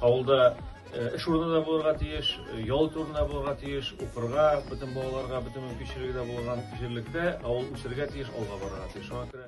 Авылда э, эш урыны да булырга тиеш, э, ял турында булырга тиеш, укырга, бөтен балаларга бөтен мөмкинчелеге дә булган җирлектә авыл үсергә тиеш, алга барырга тиеш. Шуңа күрә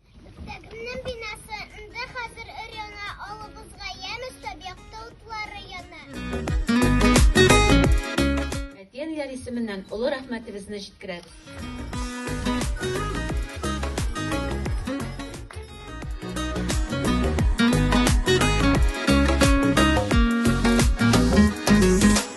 Мәктәбемнең бинасында хәзер өр-яна алыбызга ямь өстәп якты утлары яна. Әти-әниләр исеменнән олы рәхмәтебезне җиткерәбез.